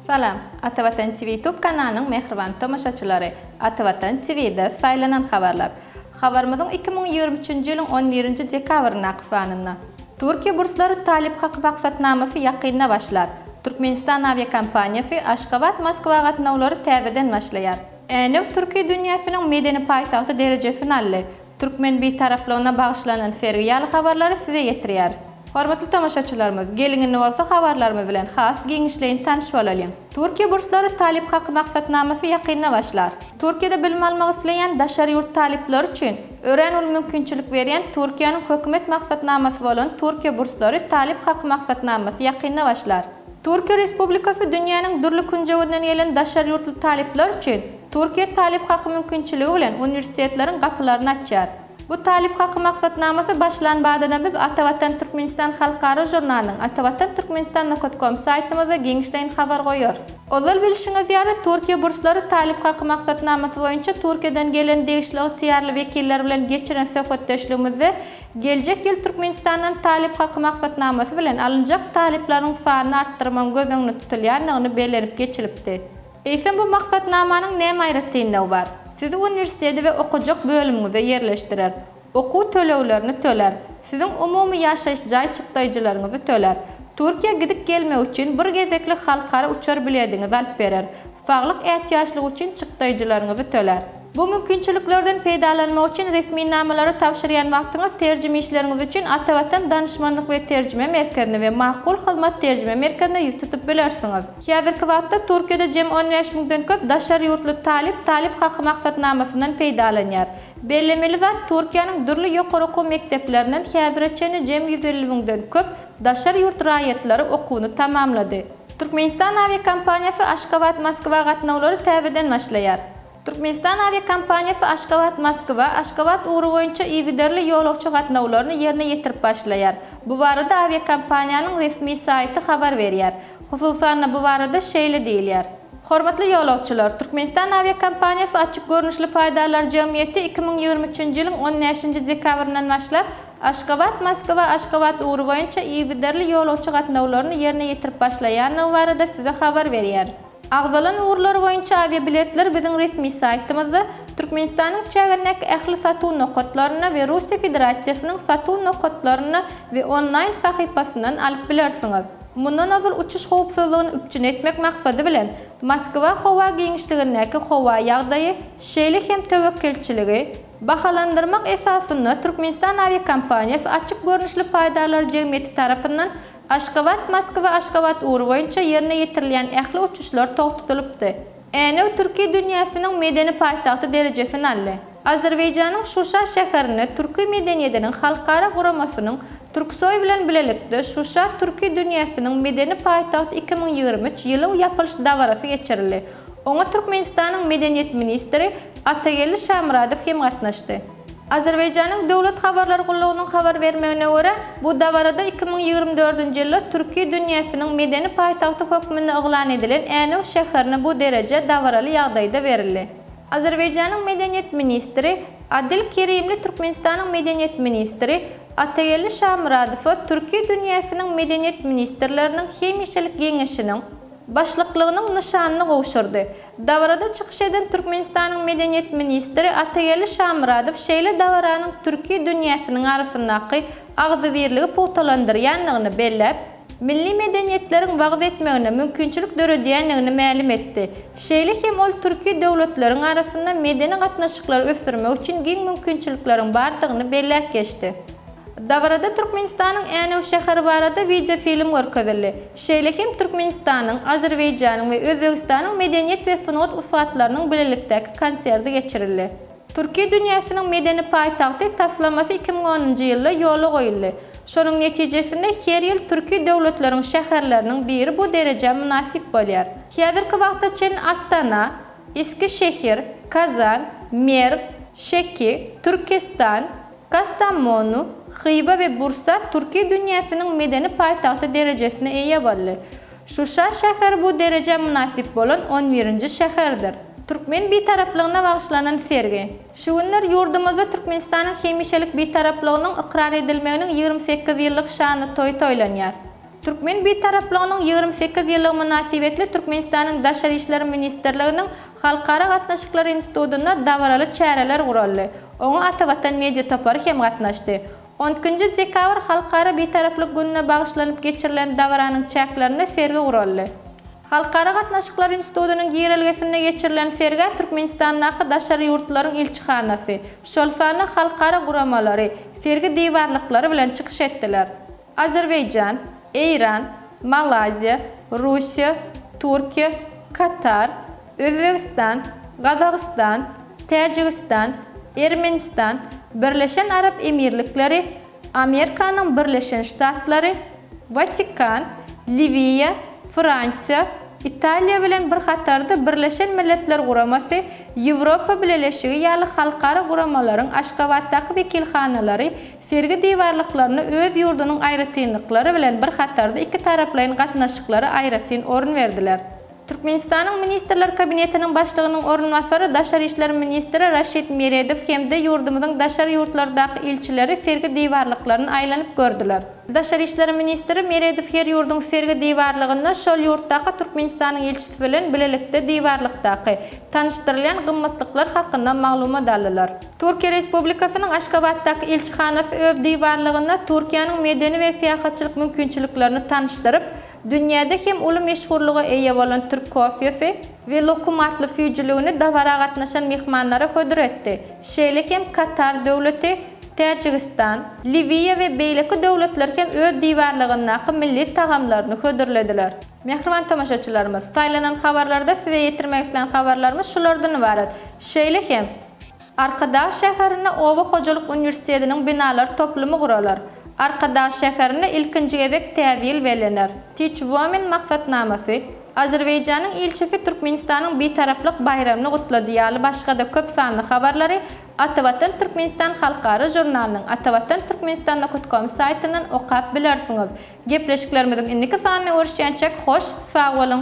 Salam, Atavatan TV YouTube kanalynyň mähriban tomaşaçylary! Atavatan TV-de saýlanan habarlar. Habarymyzyň iki müň ýigrimi üçünji ýylyň on birinji dekabryndaky sanynda. Türkiýe burslary Talyp haky maksatnamasy ýakynda başlar. Türkmenistan awiakompaniýasy Aşgabat, Moskwa gatnawlary täzeden başlaýar. Änew türki dünýäsiniň medeni paýtagty derejesini aldy. Türkmen Bitaraplygyna bagyşlanan sergi ýaly habarlary size ýetirýäris. Hormatly tomaşaçylarymyz, geliň indi bolsa habarlarymyz bilen has giňişleýin tanyş bolalyň. Türkiýe burslary Talyp haky maksatnamasy ýakynda başlar. Türkiýede bilim almak isleýän daşary ýurt talyplary üçin örän uly mümkinçilik berýän Türkiýäniň hökümet maksatnamasy bolan Türkiýe burslary Talyp haky maksatnamasy ýakynda başlar. Türkiýe Respublikasy dünýäniň dürli künjeginden gelen daşary ýurtly talyplar üçin, Türkiýe talyp haky mümkinçiligi bilen uniwersitetleriň gapylaryny açýar. Bu talyp haky maksatnamasy başlan badana biz Ata Watan Türkmenistan halkara žurnalynyň Atavatan Türkmenistan nokat kom saýtymyzda giňişleýin habar goýarys. Ozal bilşiňiz ýaly, Türkiýe burslary talyp haky maksatnamasy boýunça Türkiýeden gelen degişli ygtyýarly wekiller bilen geçiren söhbetdeşligimizde geljek ýyl Türkmenistandan talyp haky maksatnamasy bilen alynjak talyplaryň sanyny artdyrmagyň göz öňünde tutulýandygyny bellenip geçilipdi. Eýsem bu maksatnamanyň näme aýratynlygy bar? Sizi uniwersitete we okajak bölümiňize ýerleşdirer. Okuw töleglerini töler. Siziň umumy ýaşaýyş jaý çykdaýjylaryňyzy töler. Türkiýä gidip gelmek üçin bir gezeklik halkara uçar bilediňizi alyp berer. Saglyk ätiýaçlygy üçin çykdaýjylaryňyzy töler. Bu mümkinçiliklerden peýdalanmak üçin resminamalary tabşyrýan wagtyňyz terjime işleriňiz üçin Atavatan Danyşmanlyk we Terjime Merkezine we Makul Hyzmat Terjime Merkezine ýüz tutup bilersiňiz. Häzirki wagtda Türkiýede jemi on bäş müňden köp daşary ýurtly talyp Talyp haky maksatnamasyndan peýdalanýar. Bellemeli zat, Türkiýäniň dürli ýokary okuw mekdeplerinden häzire çenli jemi ýüz elli müňden köp daşary ýurt raýatlary okuwyny tamamlady. Türkmenistan awiakompaniýasy Aşgabat-Moskwa gatnawlary täzeden başlaýar. Türkmenistan awiakompaniýasy Aşgabat, Moskwa, Aşgabat ugry boýunça yzygiderli ýolagçy gatnawlaryny ýerine ýetirip başlaýar. Bu barada awiakompaniýanyň resmi saýty habar berýär. Hususan-da, bu barada şeýle diýilýär. Hormatly ýolagçylar, Türkmenistan awiakompaniýasy açyk görnüşli paýdarlar jemgyýeti iki müň ýigrimi üçünji ýylyň on bäşinji dekabryndan başlap Aşgabat, Moskwa, Aşgabat ugry boýunça yzygiderli ýolagçy gatnawlaryny ýerine ýetirip başlaýandygy barada Size habar berýäris. Agzalan ugurlar boýunça awiabiletler biziň resmi saýtymyzda, Türkmenistanyň çägindäki ähli satuw nokatlarynda we Russiýa Federasiýasynyň satuw nokatlarynda we onlaýn sahypasyndan alyp bilersiňiz. Mundan ozal uçuş howpsuzlygyny üpjün etmek maksady bilen, Moskwa howa giňişligindäki howa ýagdaýy, şeýle hem töwekgelçiligi, bahalandyrmak esasynda Türkmenistan awiakompaniýasy açyk görnüşli paýdarlar jemgyýeti tarapyndan Aşgabat, Moskwa, Aşgabat ugry boýunça ýerine ýetirilýän ähli uçuşlar togtadylypdy. Änew türki dünýäsiniň medeni paýtagty derejesini aldy. Azerbaýjanyň Şuşa şäherinde Türki medeniýediniň halkara guramasynyň Türksoý bilen bilelikde Şuşa türki dünýäsiniň medeni paýtagty iki müň ýigrimi üç ýylyň ýapylyş dabarasy geçirildi. Oňa Türkmenistanyň medeniýet ministri Atageldi Şamyradow hem gatnaşdy. Azerbaýjanyň döwlet habarlar gullugynyň habar bermegine görä, bu dabarada iki müň ýigrimi dördünji ýylda Türki dünýäsiniň medeni paýtagty hökmünde yglan edilen Änew şäherine bu dereje dabaraly ýagdaýda berildi. Azerbaýjanyň medeniýet ministri Adil Kerimli Türkmenistanyň medeniýet ministri Atageldi Şamyradowa Türki dünýäsiniň medeniýet ministrleriniň hemişelik geňeşiniň Başlyklygynyň nyşanyny gowşurdy. Dabarada çykyş eden Türkmenistanyň Medeniýet ministri Atageldi Şamyradow şeýle dabaranyň türki dünýäsiniň arasyndaky agzybirligi pugtalandyrýandygyny belläp, milli medeniýetleriň wagyz etmegine mümkinçilik döredýändigini mälim etdi. Şeýle hem ol türki döwletleriň arasynda medeni gatnaşyklary ösdürmek üçin giň mümkinçilikleriň bardygyny belläp geçdi. Dabarada Türkmenistanyň Änew şäheri barada wideofilm görkezildi. Şeýle hem Türkmenistanyň, Azerbaýjanyň we Özbegistanyň medeniýet we sungat ussatlarynyň bilelikdäki konserti geçirildi. Türki dünýäsiniň medeni paýtagty taslamasy iki müň onunjy ýylda ýola goýuldy. Şonuň netijesinde her ýyl türki döwletleriň şäherleriniň biri bu derejä mynasyp bolýar. Häzirki wagta çenli Astana, Eskişehir, Kazan, Merw, Şeki, Türkestan, Kastamonu, Hywa we Bursa türki dünýäsiniň medeni paýtagty derejesine eýe boldy. Şuşa şäheri bu derejä mynasyp bolan on birinji şäherdir. Türkmen Bitaraplygyna bagyşlanan sergi. Şu günler ýurdumyzda Türkmenistanyň hemişelik Bitaraplygynyň ykrar edilmeginiň ýigrimi sekiz ýyllyk şanly toýy toýlanýar. Türkmen Bitaraplygynyň ýigrimi sekiz ýyllygy mynasybetli Türkmenistanyň Daşary işler ministrliginiň Halkara gatnaşyklary institutynda dabaraly çäreler guraldy. Oňa Atavatan media topary hem gatnaşdy. On ikinji dekabr Halkara Bitaraplyk gününe bagyşlanyp geçirilen dabaranyň çäklerinde sergi guraldy. Halkara gatnaşyklary institutynyň girelgesinde geçirilen sergä Türkmenistandaky daşary ýurtlaryň ilçihanasy, şol sanda halkara guramalary, sergi diwarlyklary bilen çykyş etdiler. Azerbaýjan, Eýran, Malaýziýa, Russiýa, Türkiýe, Katar, Özbegistan, Gazagystan, Täjigistan, Ermenistan, Birleşen Arap Emirlikleri, Amerikanyň Birleşen Ştatlary, Watikan, Liwiýa, Fransiýa, Italiýa bilen bir hatarda Birleşen Milletler Guramasy, Ýewropa Bileleşigi ýaly halkara guramalaryň Aşgabatdaky wekilhanalary Sergi diwarlyklaryna öz ýurdunyň aýratynlyklary bilen bir hatarda ikitaraplaýyn gatnaşyklara aýratyn orun berdiler. Türkmenistanyň Ministrler Kabinetiniň Başlygynyň orunbasary, daşary işler ministri Raşid Meredow hem-de ýurdumyzyň daşary ýurtlardaky ilçileri sergi diwarlyklaryny aýlanyp gördüler. Daşary işler ministri Meredow her ýurduň sergi diwarlygynda şol ýurtdaky Türkmenistanyň ilçisi bilen bilelikde diwarlykdaky, tanyşdyrylýan gymmatlyklar hakynda maglumat aldylar. Türkiýe Respublikasynyň Aşgabatdaky ilçihanasy öz diwarlygynda Türkiýäniň medeni we syýahatçylyk mümkinçiliklerini tanyşdyryp, dünýäde hem uly meşhurlyga eýe bolan türk kofesi we lokum atly süýjüligini dabara gatnaşan myhmanlara hödür etdi, şeýle hem Katar Döwleti, Täjigistan, Liwiýa we beýleki döwletler hem öz diwarlygyndaky milli tagamlaryny hödürlediler. Mähriban tomaşaçylarymyz, saýlanan habarlarda size ýetirmek islän habarlarymyz şulardan ybarat. Şeýle hem. Arkadag şäherinde Oba hojalyk uniwersitetiniň binalar toplumy guralar. Arkadag şäherinde ilkinji gezek Täzýyl bellener. Teach Women maksatnamasy, Azerbaýjanyň ilçisi Türkmenistanyň Bitaraplyk baýramyny gutlady ýaly başga-da köp sanly habarlary Atavatan Türkmenistan halkara žurnalynyň Atavatan Türkmenistan nokat kom saýtyndan okap bilersiňiz. Gepleşiklerimiziň indiki sanynda görüşýänçäk hoş sag boluň!